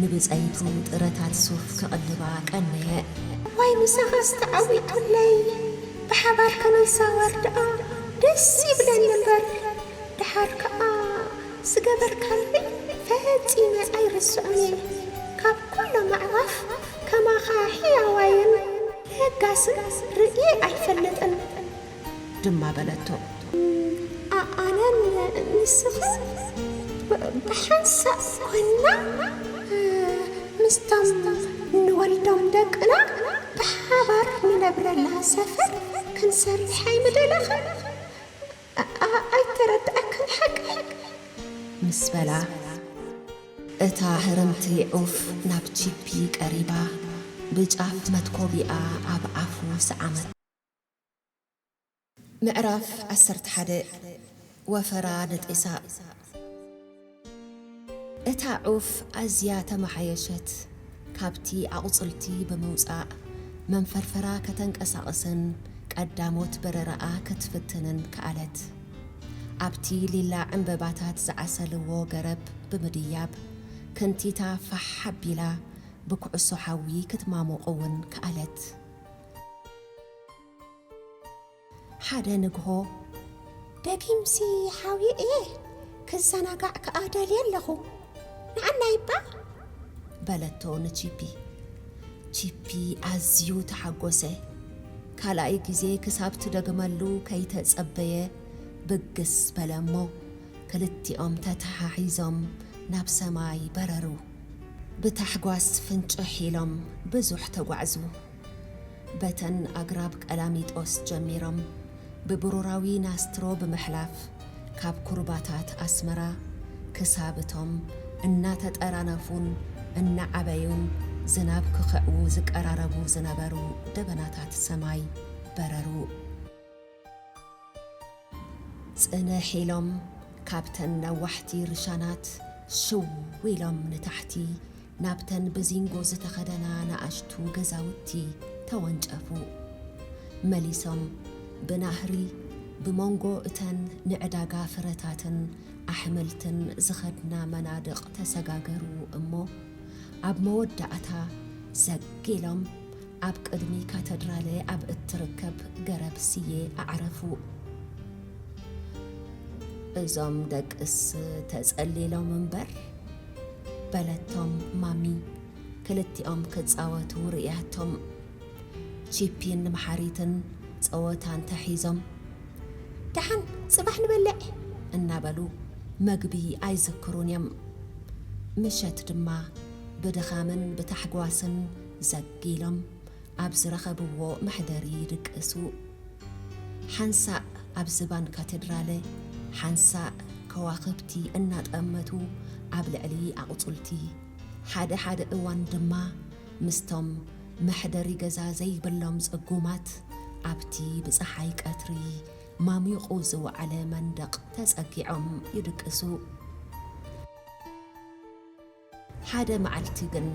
ንብጸይቱ ጥረታት ሱፍ ክቕልባ ቀነየ። ዋይ ምሳኻስ ተዓዊቱለይ ብሓባር ክንዛወር ደኣ ደስ ይብለኒ እምበር ደሓር ከኣ ዝገበርካለይ ፈጺመ ኣይርስዖን እየ ካብ ኩሎም ኣዕዋፍ ከማኻ ሕያዋይን ለጋስን ርእየ ኣይፈልጥን ድማ በለቶ። ኣነን ንስኻን ብሓንሳእ ኰይንና ምስቶም ንወልዶም ደቅና ብሓባር ንነብረላ ሰፈር ክንሰርሕ ኣይምደለኻን? ኣይተረድኣክን ሓቀይ? ምስ በላ፣ እታ ህርምቲ ዑፍ ናብ ቺፒ ቀሪባ ብጫፍ መትኮቢኣ ኣብ ኣፉ ሰዓመቶ። ምዕራፍ ዓሰርተ ሓደ ወፈራ ንጢሳ እታ ዑፍ ኣዝያ ተመሓየሸት። ካብቲ ኣቝጽልቲ ብምውጻእ መንፈርፈራ ከተንቀሳቕስን ቀዳሞት በረራኣ ክትፍትንን ከኣለት። ኣብቲ ሊላ ዕምበባታት ዝዓሰልዎ ገረብ ብምድያብ ክንቲታ ፋሕ ኣቢላ ብኵዕሶ ሓዊ ክትማሞቕ'ውን ከኣለት። ሓደ ንግሆ፣ ደጊምሲ ሓውየ እየ፣ ክዘናጋዕ ከኣ ደልየ ኣለኹ፣ ንዓናይ'ባ? በለቶ ንቺፒ። ቺፒ ኣዝዩ ተሓጐሰ። ካልኣይ ግዜ ክሳብ ትደግመሉ ከይተጸበየ ብግስ በለ እሞ፣ ክልቲኦም ተተሓሒዞም ናብ ሰማይ በረሩ። ብታሕጓስ ፍንጭሕ ኢሎም ብዙሕ ተጓዕዙ። በተን ኣግራብ ቀላሚጦስ ጀሚሮም ብብሩራዊ ናስትሮ ብምሕላፍ ካብ ኩርባታት ኣስመራ ክሳብ እቶም እናተጠራነፉን እናዓበዩን ዝናብ ክኽዕዉ ዝቀራረቡ ዝነበሩ ደበናታት ሰማይ በረሩ። ጽንሕ ኢሎም ካብተን ነዋሕቲ ርሻናት ሽው ኢሎም ንታሕቲ ናብተን ብዚንጎ ዝተኸደና ናኣሽቱ ገዛውቲ ተወንጨፉ። መሊሶም ብናህሪ ብሞንጎ እተን ንዕዳጋ ፍረታትን ኣሕምልትን ዝኸድና መናድቕ ተሰጋገሩ እሞ ኣብ መወዳእታ ዘግ ኢሎም ኣብ ቅድሚ ካተድራለ ኣብ እትርከብ ገረብ ስየ ኣዕረፉ። እዞም ደቅስ ተጸሊሎም እምበር፣ በለቶም ማሚ ክልቲኦም ክጻወቱ ርእያቶም። ቺፒን መሓሪትን ጸወታ እንተሒዞም፣ ደሓን ጽባሕ ንበልዕ! እናበሉ መግቢ ኣይዝክሩን እዮም። ምሸት ድማ ብድኻምን ብታሕጓስን ዘግ ኢሎም ኣብ ዝረኸብዎ መሕደሪ ይድቅሱ። ሓንሳእ ኣብ ዝባን ካተድራለ፣ ሓንሳእ ከዋኽብቲ እናጠመቱ ኣብ ልዕሊ ኣቑጽልቲ፣ ሓደ ሓደ እዋን ድማ ምስቶም መሕደሪ ገዛ ዘይብሎም ጽጉማት ኣብቲ ብጸሓይ ቀትሪ ማሚቑ ዝወዓለ መንደቕ ተጸጊዖም ይድቅሱ። ሓደ መዓልቲ ግን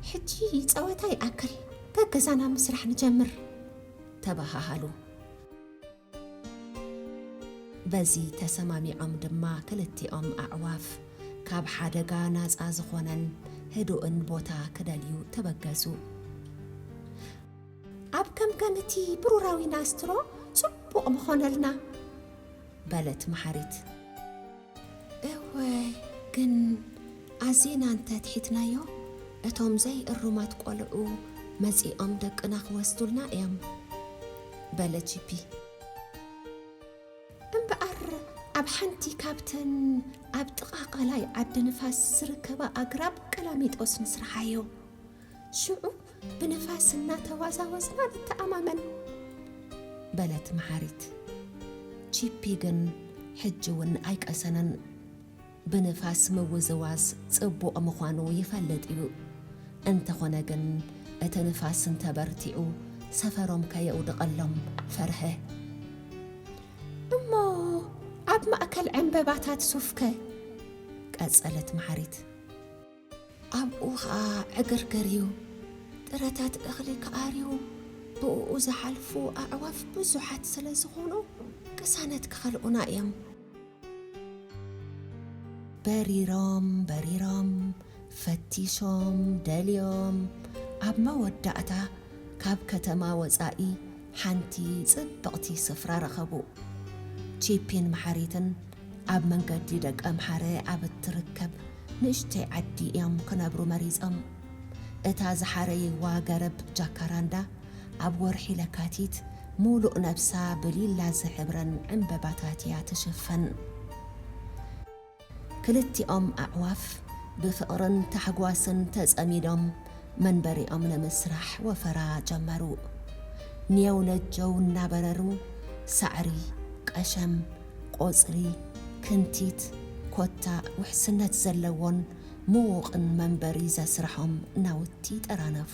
ሕጂ ጸወታ ይኣክል ገገዛና ምስራሕ ንጀምር ተበሃሃሉ። በዚ ተሰማሚዖም ድማ ክልቲኦም ኣዕዋፍ ካብ ሓደጋ ናጻ ዝኾነን ህዱእን ቦታ ክደልዩ ተበገሱ። ኣብ ከምከም እቲ ብሩራዊ ናስትሮ ጽቡቕ ምኾነልና በለት መሓሪት። እወ ግን ኣዚና እንተ ትሒትናዮ እቶም ዘይ እሩማት ቆልዑ መጺኦም ደቅና ክወስዱልና እዮም በለ ጂፒ። እምበኣር ኣብ ሓንቲ ካብተን ኣብ ጥቓ ቐላይ ዓዲ ንፋስ ዝርከባ ኣግራብ ቀላሚጦስ ንስርሓዮ። ሽዑ ብንፋስ እናተዋዛወዝና ንተኣማመን በለት መሓሪት። ቺፒ ግን ሕጂ እውን ኣይቀሰነን። ብንፋስ ምውዝዋዝ ጽቡቕ ምዃኑ ይፈልጥ እዩ። እንተኾነ ግን እቲ ንፋስ እንተበርቲዑ ሰፈሮም ከየውድቐሎም ፈርሐ። እሞ ኣብ ማእከል ዕንበባታት ሱፍከ? ቀጸለት መሓሪት። ኣብኡ ኸኣ ዕግርግር እዩ፣ ጥረታት እኽሊ ክኣርዩ ብእኡ ዝሓልፉ ኣዕዋፍ ብዙሓት ስለ ዝዀኑ፣ ቅሳነት ክኸልኡና እዮም። በሪሮም በሪሮም፣ ፈቲሾም ደልዮም፣ ኣብ መወዳእታ ካብ ከተማ ወጻኢ፣ ሓንቲ ጽብቕቲ ስፍራ ረኸቡ። ቺፒን መሓሪትን ኣብ መንገዲ ደቀምሓረ ኣብ እትርከብ ንእሽተይ ዓዲ እዮም ክነብሩ መሪጸም። እታ ዝሓረይዋ ገረብ ጃካራንዳ ኣብ ወርሒ ለካቲት ምሉእ ነብሳ ብሊላ ዝሕብረን ዕምበባታት እያ ትሽፈን። ክልቲኦም ኣዕዋፍ ብፍቕርን ታሕጓስን ተጸሚዶም መንበሪኦም ንምስራሕ ወፈራ ጀመሩ። ኔው ነጀው እናበረሩ ሳዕሪ፣ ቀሸም፣ ቆጽሊ፣ ክንቲት፣ ኮታ፣ ውሕስነት ዘለዎን ምዉቕን መንበሪ ዘስርሖም ናውቲ ጠራነፉ።